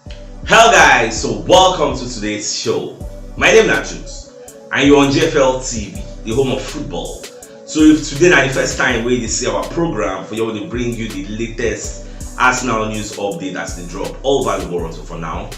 Hello guys, so welcome to today's show. My name is Jules and you're on GFL TV, the home of football. So if today na the first time wey you dey see our program, for here we dey bring you the latest Arsenal news update as e dey drop all over the world so for now.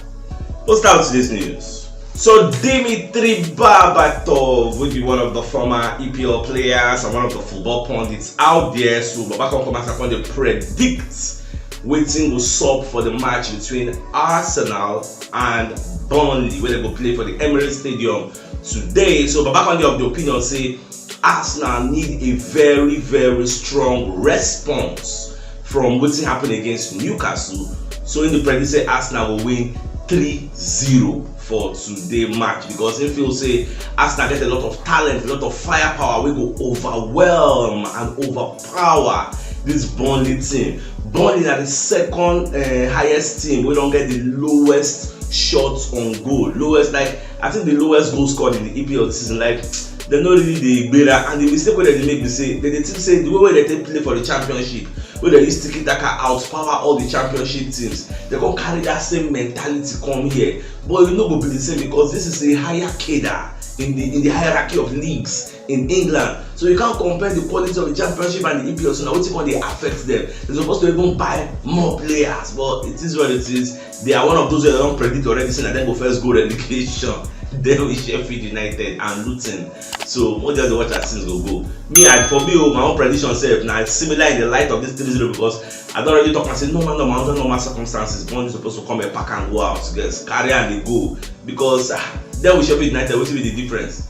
Let's start with today's news. So Dimitri Berbatov wey be one of the former EPL players and one of the football pundits out there, so Baba come come outside come dey predict wetin go sup for di match between arsenal and burnley wey dem go play for di emirates stadium today so baba come dey of di opinion say arsenal need a very very strong response from wetin happen against newcastle so im dey predict say arsenal go win 3-0 for today match because im feel say arsenal get a lot of talent a lot of firepower wey go overwhelm and over power this Burnley team. Burnley are the second uh, highest team We don't get the lowest shots on goal. Lowest like I think the lowest goal scored in the EPL this season like they no really dey gbera and the mistake wey dem make be say dem dey think say the way wey dem take play for the championship wey dem use tiki taka outpower all the championship teams dem come carry that same mentality come here but e no go be the same because this is a higher cadre in the in the hierarchy of leagues in england so you can't compare the quality of the championship and the epl so na wetin come dey affect them they suppose to even buy more players but it is what it is they are one of those wey don predict already say na dem go first go relegation then we sheffield united and luton so we just dey watch as things go go me i for me o oh, my own prediction sef na similar in the light of this three zero because i don already talk am say normal normal under normal circumstances burnley suppose to come and pack and go out yes carry am dey go because ah then we sheffield united wetin be the difference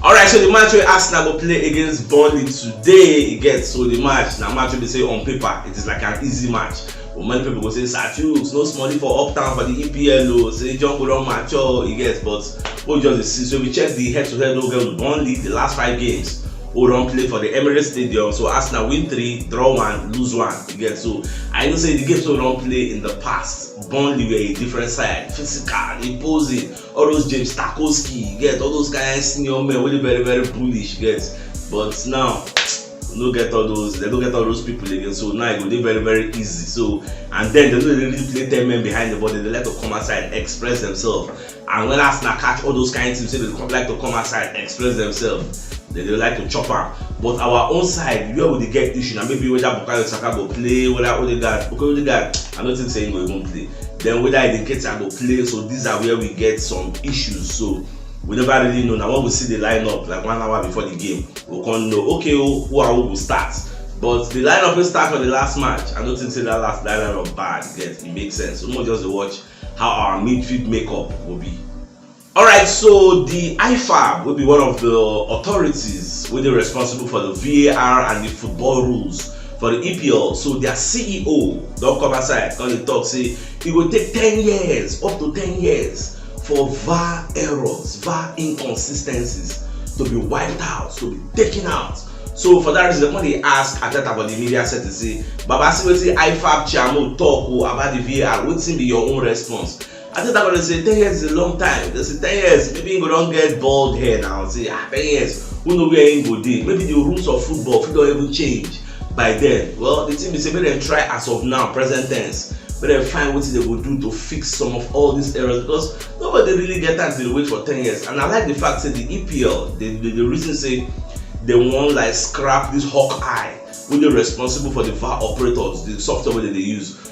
Alright, so the match wey Arsenal go play against Burnley today e get so the match na match wey be say on paper it is like an easy match but many people go say Sir Chuks no smallie for uptown for the EPL o say Jungle don mature o e get but wey we just dey see so we check the head to head wey we get with Burnley the last five games wey we don play for the Emirates Stadium so Arsenal win three draw one lose one e get so I know say the games wey we don play in the past Burnley were a different side physical imposing all those James Tarkowski, you get all those kind senior men wey dey very very bullish, you get. But now we no get all those, they no get all those people again. So now e go dey very very easy. So and then they no dey really play ten men behind the ball, they dey like to come outside express themselves. And when Arsenal catch all those kind teams, say they come like to come outside express themselves. They dey like to chop am. But our own side, where we dey get issue na maybe whether Bukayo Saka go play, whether Odegaard, okay Odegaard, I no think say he go even play. then whether e dey ketia go play so these are where we get some issues so we never really know na when we see the lineup like one hour before the game we come know okay o who and who go start but the lineup wey start for the last match i no think say that last that lineup bad get e make sense so make we just dey watch how our midfield makeup go be. Alright so di IFAB wey be one of di authorities wey dey responsible for di VAR and di football rules for di EPL so dia CEO don come outside come dey talk say e go take ten years up to ten years for VAR errors, VAR inconsistencies to be wiped out, to be taken out so for dat reason dem come dey ask Arteta for di media setting say baba see wetin IFAB chairmo talk o about di VAR wetin be your own response? I think that one say ten years is a long time. They say ten years, maybe you go don get bald hair now. Say ah, ten years, who know where him go dey? Maybe the rules of football fit don even change by then. Well, the thing be say make dem try as of now, present tense. Make dem find wetin dem go do to fix some of all these errors because nobody really get time to dey wait for ten years. And I like the fact say the EPL, the the, the reason say they wan like scrap this hawk eye wey dey responsible for the VAR operators, the software wey dem dey use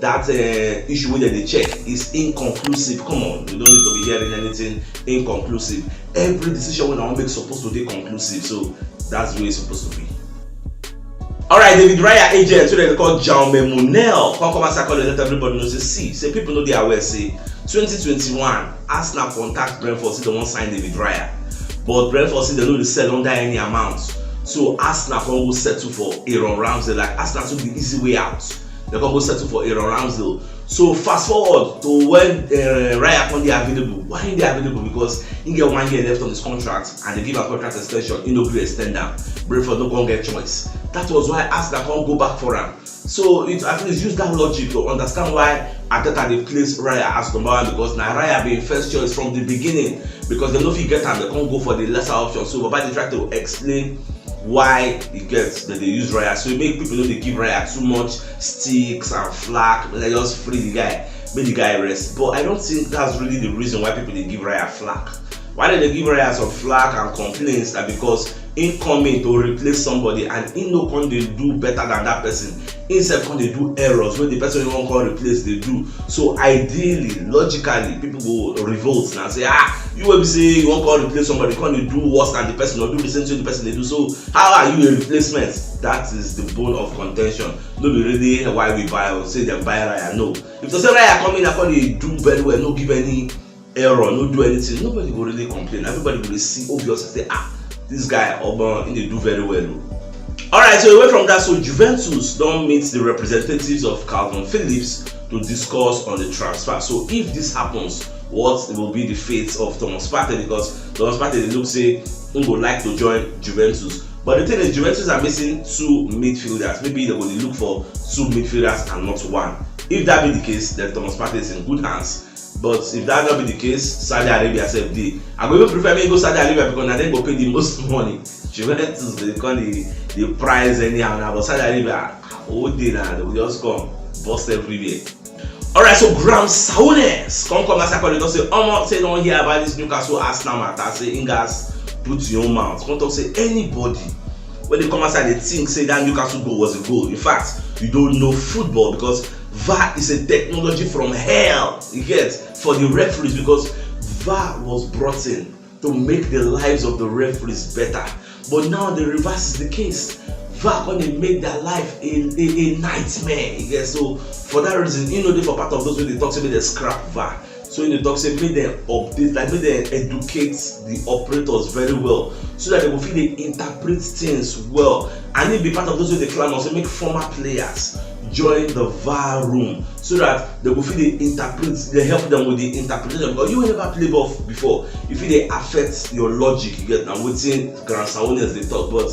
That um issue wey dem dey check is inconclusive, come on we no need to be hearing anything inconclusive, every decision wey una wan make suppose to dey conclusive so that's the way e suppose to be. Alright David Raya agent wey dem dey call Jaume Munell come come outside come dey let everybody know say see say people no dey aware say twenty twenty one Arsenal contact Brentford say dem wan sign David Raya but Brentford say dem no dey sell under any amount so Arsenal come go settle for Aaron Ramsey like Arsenal took the easy way out. dem come go settle for aaron ramsdale so fast forward to when uh, raya come dey available why he dey available because he get one year left on his contract and they give am contract extension he no gree extend am brentford no come get choice that was why arsenal come go back for am so it at least use that logic to understand why Ateta dey place Raya as number one because na Raya be im first choice from the beginning because dem no fit get am dem come go for the lesser option so Baba dey try to explain why you get dem dey use raya so make people no dey give raya too much sticks and flack make dem just free the guy make the guy rest but i don't think that's really the reason why people dey give raya flack why dem dey give raya some flack and complaints na because him come in to replace somebody and him no come dey do better than that person him sef come dey do errors wey the person wey wan come replace dey do so ideally logically people go revolt na say ah you wey be say you wan come replace somebody come dey do worse than the person or do the same thing the person dey do so how are you a replacement that is the bone of contention no be really why we buy or say dem buy raya no if to say raya come in and come dey do very well no give any error no do anything nobody go really complain everybody go dey see obvious and say ah this guy omo he dey do very well o. Oh. alright so away from that so juventus don meet the representatives of calvin phillips to discuss on the transfer so if this happens what will be the fate of thomas partey because thomas partey dey look say he go like to join juventus but the thing is juventus are missing two midfielders maybe they go dey look for two midfielders and not one if that be the case then thomas partey is in good hands but if dat no be di case saudi arabia sef dey i go even prefer make e go saudi arabia because na dem go pay di most money juventus dey come dey dey price anyhow na but saudi arabia whole day na dem go just come burst everywhere. alright so graham souness come come outside come dey talk say omo say e don hear about dis newcastle arsenal matter say im gatz put im own mouth come talk say anybody wey dey come outside dey think say dat newcastle goal was a goal in fact you don't know football because var is a technology from hell you get for the referees because var was brought in to make the lives of the referees better but now the reverse is the case var come dey make their life a a a nightmare you get so for that reason he no dey for part of those wey dey talk say make dem scrap var so im dey talk say make dem update like make dem educate the operators very well so that dem go fit dey interpret things well and im be part of those wey dey clamour say make former players join the var room so that dem go fit dey interpret dey help them with the interpretation because you wey never play ball before e fit dey affect your logic you get na wetin grand sawonians dey talk but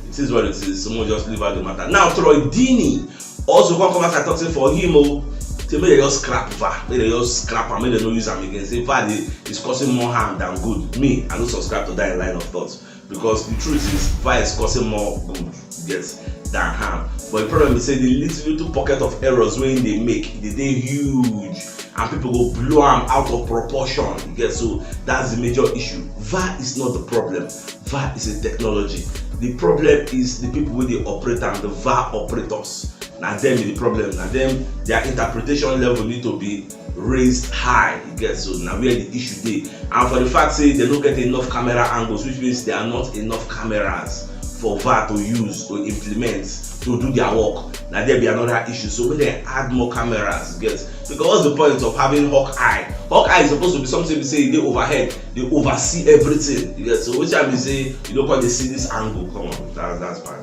it is what it is someone just leave out the matter now troy deeney Also come come back and talk say for him o oh, say make dem just scrap VAR make dem just scrap am make dem no use am again say VAR dey is causing more harm than good me I no subscribe to that line of thought because the truth is VAR is causing more good get than harm but the problem be say the little little pocket of errors wey he dey make e dey dey huge and people go blow am out of proportion you get so that's the major issue VAR is not the problem VAR is a technology. The problem is the people wey dey operate am, the VAR operators. Na them be the problem. Na them their interpretation level need to be raised high. You get so na where the issue dey. And for the fact say they no get enough camera angles, which means there are not enough cameras for VAR to use to implement to do their work. Na there be another issue. So make dem add more cameras. You get because what's the point of having hawk eye? Hawk eye is supposed to be something be say e dey overhead. dey oversee everything you get so which i mean say you no come dey see this angle come on that's that's fine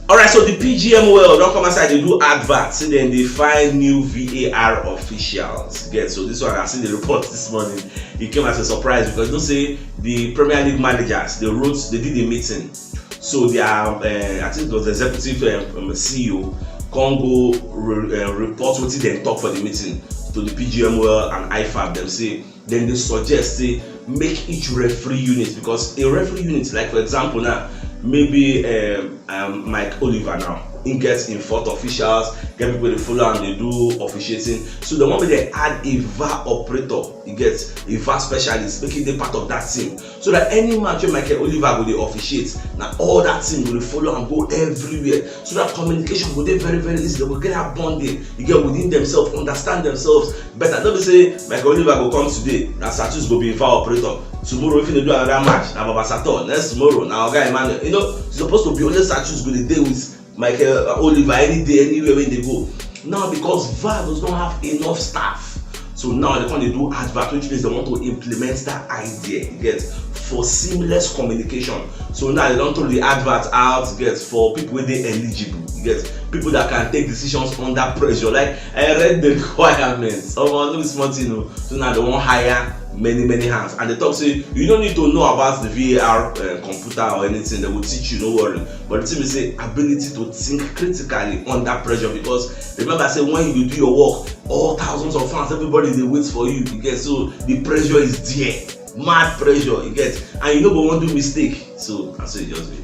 alright so the pgmol don come outside dey do advert say dem dey find new var officials get so this one i see the report this morning e came as a surprise because you know say the premier league managers they wrote they did a meeting so their uh, i think it was the executive uh, um, um, ceo come go re, uh, report wetin dem talk for the meeting to the pgmol and ifab dem say dem dey suggest say make each referee unit because a referee unit like for example now maybe um, um, mike oliver now he gets in fourth officials get people dey follow am dey do officiating so the one wey dey add a var operator he gets a var specialist make he dey part of that team so that any match wey Michael Oliver go dey officiate na all that thing go dey follow am go everywhere so that communication go dey very very easy dem go get that bonding you get within themselves understand themselves better no be say Michael Oliver go come today na Satus go be him file operator tomorrow if he dey do another match na Baba Sator next tomorrow na Oga Emmanuel you know suppose to be only Satus go dey dey with Michael uh, Oliver any day, anywhere when they go. Now because VAR does not have enough staff. So now they come dey do advert which means they want to implement that idea you get for seamless communication. So now they don throw the advert out you get for people wey dey eligible you get people that can take decisions under pressure like I read the requirements omo no be small thing o so now they wan hire many many hands and they talk say you no need to know about the var uh, eh, computer or anything they go teach you no worry But the thing be say ability to think critically under pressure because remember say when you do your work, all thousands of fans, everybody dey wait for you. You get so the pressure is there, mad pressure. You get and you no go wan do mistake. So na so e just be.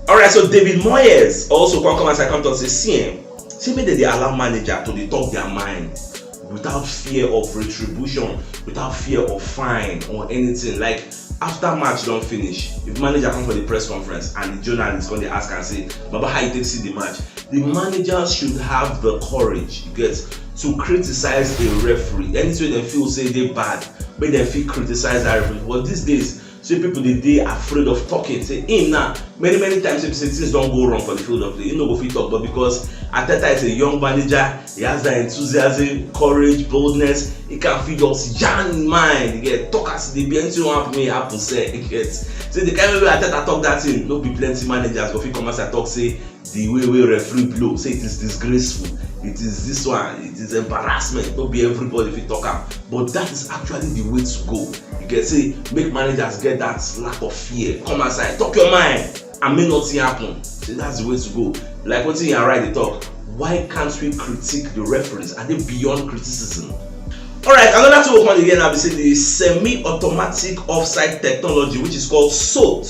Alright, so David Moyes also come come outside come talk say see eh, say make dem dey allow manager to dey talk their mind without fear of retribution without fear of fine or anything like after match don finish if manager come for the press conference and the journalist come dey ask am say baba how you take see the match the manager should have the courage you get to criticize a referee anything wey dem feel say dey bad make dem fit criticize that referee but these days say pipo dey dey afraid of talking say im now many many times wey be say things don go wrong for di field of play im no go fit talk but because Arteta is a young manager he has that enthusiasm courage boldness he can fit just yarn im mind you get talk as e dey be anything wey wan happen make e happen sef you get say di kind way wey Arteta talk that thing no be plenty managers go fit come outside talk say di way wey referee blow say it is disgraceful it is this one it is embarrassment no be everybody fit talk am but that is actually the way to go you get say make managers get that lack of fear come outside talk your mind and make nothing happen say that's the way to go like wetin yara dey talk why can't we critique the referees are they beyond criticism alright another thing we come dey hear now be say the semi-automatic offside technology which is called sot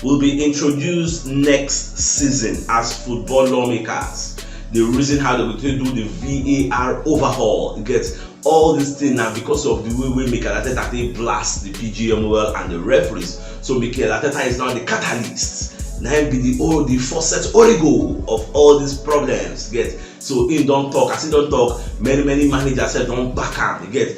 will be introduced next season as football lawmakers the reason how dem go take do the var overhaul get all this thing na because of the way wey mikel arteta take blast the pgmol and the referees so mikel arteta is now the catalyst na him be the all the faucet origo of all these problems get so him don talk as him don talk many many managers sef don back am get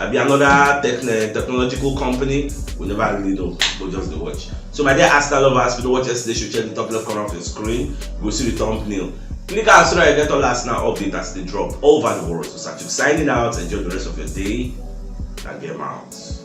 abi another tech eh, technological company we never really know we just dey watch so my dear arsenal lovers we don watch yesterday show check the top left corner of your screen go see the thumbnail click am so that you get all arsenal update as they drop all over the world so sachu signing out enjoy the rest of your day na game out.